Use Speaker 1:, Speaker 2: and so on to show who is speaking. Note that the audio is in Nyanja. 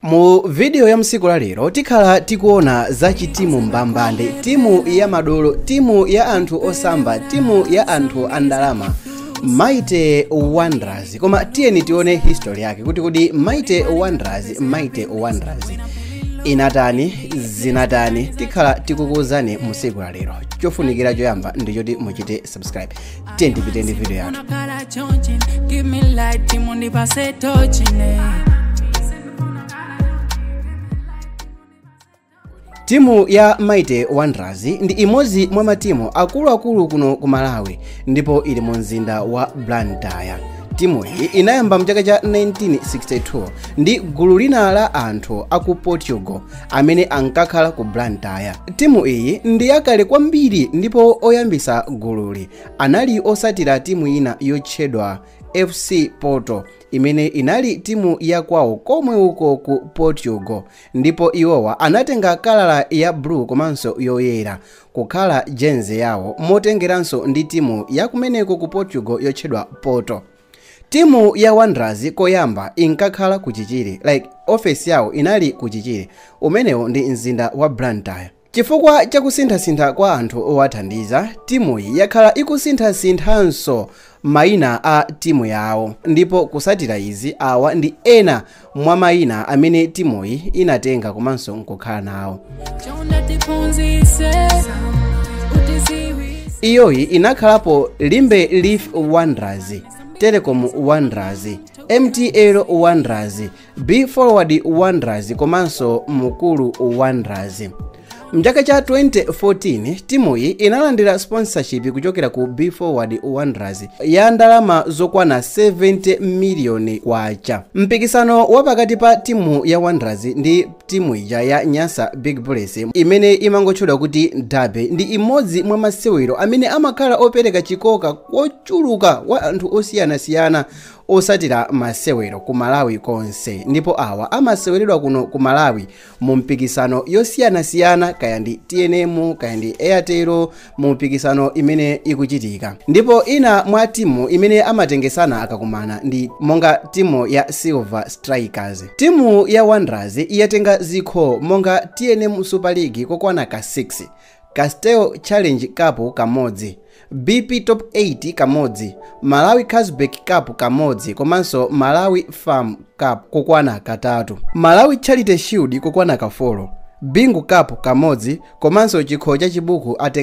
Speaker 1: Mu video ya msiku la lero tikhala tikuona za chitimu mbambande, timu ya madolo, timu ya anthu osamba, timu ya anthu andalama Mighty Wanderers. Koma tiyeni tione history yake kuti kodi Mighty Wanderers, Mighty Wanderers inatani zinatani tikhala tikukuuzani musiku la lero chofunikira choyamba ndichoti muchite subscribe tiyeni tipite ndi video yathu Unakala chonchi, give me light, timundi pase tochi ne. timu ya mighty wanderers ndi imodzi mwa matimu akuluakulu kuno ku malawi ndipo ili mu mzinda wa blantyre timu iyi inayamba mchaka cha 1962 ndi gulu lina la anthu aku portugal amene ankakhala ku blantyre timu iyi ndi yakale kwambiri ndipo oyambisa gululi anali otsatira timu ina yotchedwa fc porto imene inali timu ya kwawo komwe uko ku portugal ndipo iwowa anatenga kala ya blue komanso yoyera kukhala jezi yawo motengeranso ndi timu yakumeneko ku portugal yotchedwa porto Timu ya Wanderers koyamba inkakhala ku Chichiri like office yawo inali ku Chichiri, umenewu ndi mzinda wa Blantyre. Chifukwa cha kusinthasintha kwa anthu owathandiza, timuyi yakhala ikusinthasinthanso maina a timu yawo ndipo kutsatira izi awa ndi ena mwa mayina amene timuyi inatenga komanso nkukhala nawo iyoyi inakhalapo limbe leaf wanderers telecom wanderers mtl wanderers be forward wanderers komanso mukuru wanderers mchaka cha 2014 timuyi inalandira sponsorship kuchokera ku be forward wanderers ya ndalama zokwana 70 miliyoni kwacha mpikisano wa pakati pa timu ya wanderers ndi timu ija ya nyasa big bullets imene imangotchedwa kuti derby ndi imodzi mwa masewero amene amakhala opereka chikoka kochuluka kwa anthu osiyanasiyana otsatira masewero ku malawi konse ndipo awa amaseweredwa kuno ku malawi mu mipikisano yosiyanasiyana kaya ndi tnm kaya ndi airtel mu mipikisano imene ikuchitika ndipo ina mwa timu imene amatengesana akakumana ndi monga timu ya silver strikers timu ya wanderers yatenga zikho monga tnm super league kokwana ka 6 Castel Challenge Cup kamodzi, BP Top 8 kamodzi, Malawi Carlsberg Cup kamodzi komanso Malawi FAM Cup kokwana katatu, Malawi Charity Shield kokwana ka folo, Bingu Cup kamodzi komanso chikho cha Chibuku atenga